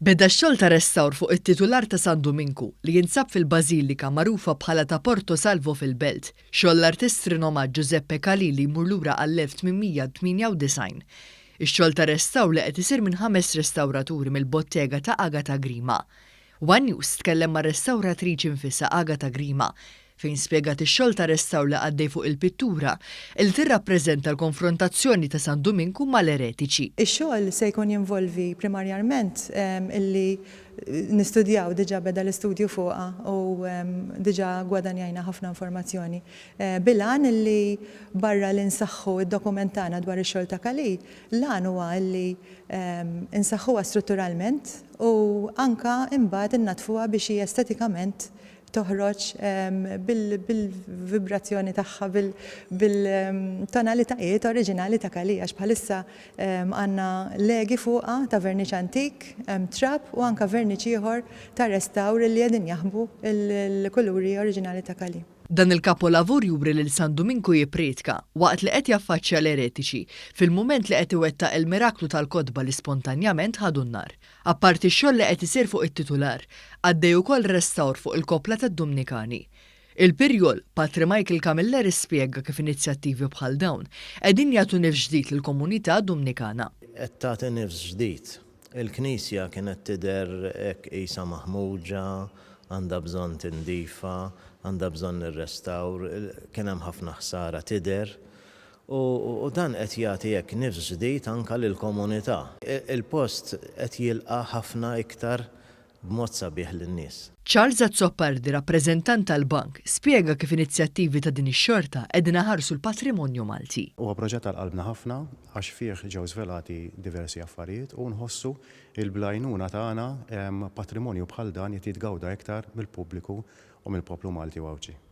Beda x-xogħol ta' restawr fuq it-titular ta' San Duminku, li jinsab fil-bażilika magħrufa bħala ta' Porto Salvo fil-Belt, xogħol l-artist rinomat Giuseppe Calì li jmur lura għall-1898. Ix-xogħol ta' restawr li qed isir minn ħames restawraturi mill-bottega ta' Agata Grima. One News tkellem mar-restawratriċi nfisha Agata Grima fejn spjegat ix-xogħol ta' restawr li għaddej fuq il-pittura li tirrappreżenta l-konfrontazzjoni ta' San Duminku mal-eretiċi. Ix-xogħol se jkun jinvolvi primarjarment illi nistudjaw, diġà beda l-istudju fuqha u diġà gwadanjajna ħafna informazzjoni, bil-għan illi barra li nsaħħu d-dokument tagħna dwar ix-xogħol ta' Kali, L-għan huwa li nsaħħuha strutturalment u anke imbagħad innaddfuha biex hi estetikament toħroġ bil-vibrazzjoni tagħha, bil-tonalitajiet oriġinali ta' Kali għax bħalissa għandna legi fuqha ta' verniċ antik, trab u anke verniċ ieħor ta' restawr li qegħdin jaħbu l-kuluri oriġinali ta' Kali. Dan il-kapolavur juri lil San Duminku jipprietka, waqt li qed jaffaċċja l-eretiċi, fil-mument li qed iwettaq il-miraklu tal-kotba li spontanjament ħadu n-nar. Apparti x-xogħol li qed isir fuq it-titular, għaddej ukoll restawr fuq il-koppla tad-Dumnikani. Il-Pirjol, Patri Michael Camilleri spjega kif inizjattivi bħal dawn, qegħdin jagħtu nifs ġdid lill-komunità Dumnikana. Qed tagħti nifs ġdid Il-Knisja kienet tidher hekk qisha maħmuġa, għandha bżonn tindifa, għandha bżonn ir-restawr, kien hemm ħafna ħsara tidher. U dan qed jagħti hekk nifs ġdid anke lill-komunità. Il-post qed jilqa' ħafna iktar b'mod sabiħ lin-nies. Charles Azzopardi, rappreżentant tal-Bank, spjega kif inizjattivi ta' din ix-xorta qegħdin iħarsu l-patrimonju Malti. Huwa proġett għal qalbna ħafna għax fih ġew żvelati diversi affarijiet u nħossu li bl-għajnuna tagħna patrimonju bħal dan jrid jitgawda iktar mill-pubbliku u mill-poplu Malti u Għawdxi.